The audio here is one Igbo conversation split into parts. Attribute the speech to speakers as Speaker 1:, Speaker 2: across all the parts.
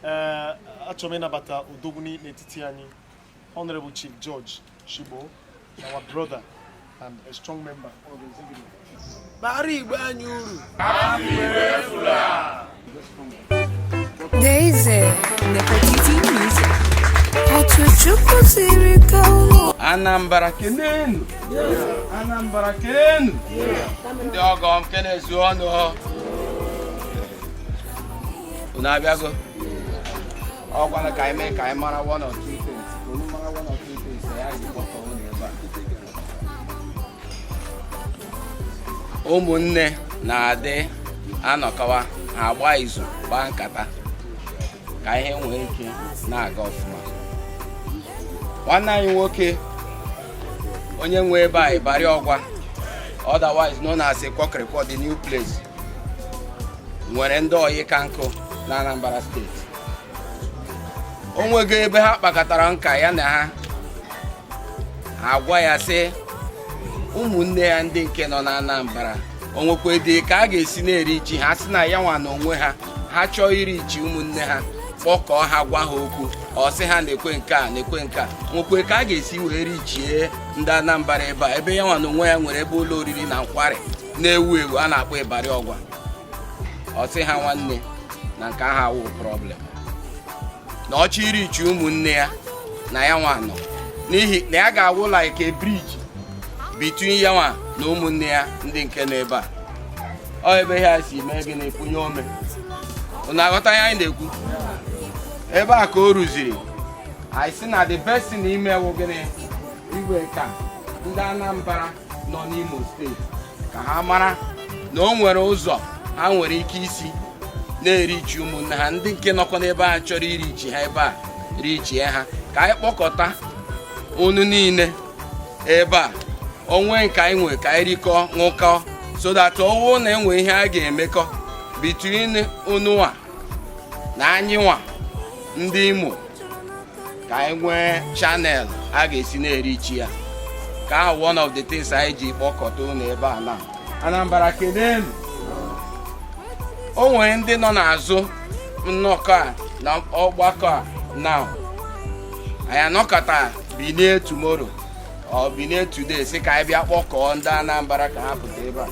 Speaker 1: ee achọrọ m ịnabata odogwu nọ n'etiti anyị honorable chief george shigbo our brother and a strong member of the executive bara igbe anyị uru
Speaker 2: Daisy, Nefertiti Music. Ọtụchukwu
Speaker 3: siri ka ụlọ. Anambra kenenu Anambra kenenu ndị ọgọ m kenezuonu unu abịago ọkwana ka anyị mee ka anyị mara one or two things ka unu mara one or two things na ya ji kpọkọ unu ebe a ụmụnne na-adị anọkọwa ha agba izu gbaa nkata ka ihe nwee ike na-aga ọfụma nwanne anyị nwoke onye nwe ebe a ịbarị ọgwa otherwise known as ịkwọkịrịkwọ the new place nwere ndị oyi ka nkụ na Anambra steeti o nwego ebe ha kpakọtara nka ya na ha agwa ya sị ụmụnne ya ndị nke nọ na Anambra o nwekwe dị ka a ga-esi na-erichi ha sị na ya nwa na onwe ha ha chọọ irichi ụmụnne ha kpọkọọ ha gwa ha okwu ọ sị ha nekwe nke a nekwe nke a o nwekwe ka a ga-esi wee richie ndị Anambra ebe a ebe ya nwa na onwe ya nwere ebe ụlọ oriri na nkwari na-ewu ewu a na-akpọ ịbarị ọgwa ọ sị ha nwanne na nke ahụ awụ problem na ọ chọọ irichi ụmụnne ya na ya nwa nọ n'ihi na ya ga-awụ like a bridge between ya nwa na ụmụnne ya ndị nke nọ ebe a ọ ebe ha si mee gị na-ekwunye ome unu aghọta ihe anyị na-ekwu ebe a ka o ruziri anyị sị na the best thing ime wụ gịnị ịgwakwa ndị Anambra nọ n'Imo steeti ka ha mara na o nwere ụzọ ha nwere ike isi na-erichi ụmụnne ha ndị nke nọkwa n'ebe a chọrọ irichi ha ebe a richie ha ka anyị kpọkọta unu niile ebe a o nwee nke anyị nwere ka anyị rikọọ ṅụkọọ so that ọ wụ na e nwee ihe a ga-emekọ between unu nwa na anyị nwa ndị Imo ka anyị nwee channel a ga-esi na-erichi ya ka ahụ one of the things anyị ji kpọkọta unu ebe a na Anambra kenenu o nwere ndị nọ n'azụ nnọkọ a na ọgbakọ a na anyị anọkata binie tomorrow or binie today sị ka anyị bịa kpọkọọ ndị Anambra ka ha pụta ebe a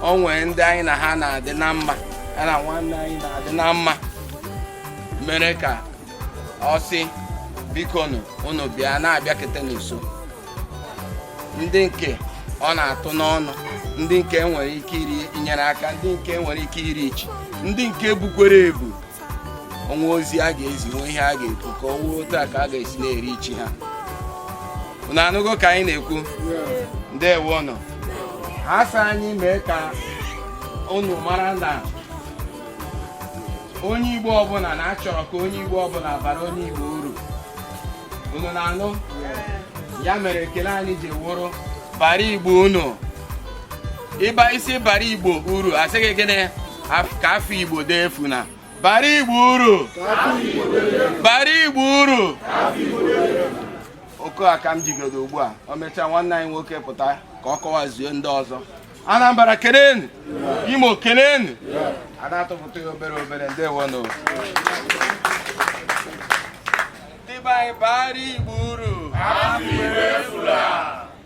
Speaker 3: o nwere ndị anyị na ha na-adị na mma ya na nwanne anyị na-adị na mma mere ka ọ sị bikonu unu bịa na-abịakete n'uso ndị nke ọ na-atụ n'ọnụ ndị nke nwere ike inyere aka ndị nke nwere ike ireach ndị nke bukwere ebu o nwee ozi a ga-ezi nwee ihe a ga-ekwu ka o nwee otu aka a ga-esi na-ereach ha unu anụgo ka anyị na-ekwu ndewonụ ha sị anyị mee ka unu mara na onye Igbo ọbụla na a chọrọ ka onye Igbo ọbụla bara onye Igbo uru unu na-anụ ya mere ekele anyị ji wụrụ bara Igbo uru ị bịa sị bara Igbo uru a sị gị gịnị ka afa Igbo dee efuna bara Igbo uru bara Igbo uru okwu a ka m jigodo ugbu a o mechaa nwanne anyị nwoke pụta ka ọ kọwazuo ndị ọzọ Anambra kelenu Imo kelenu a na-atụpụta ya obere obere ndewonụ ndị be anyị bara Igbo uru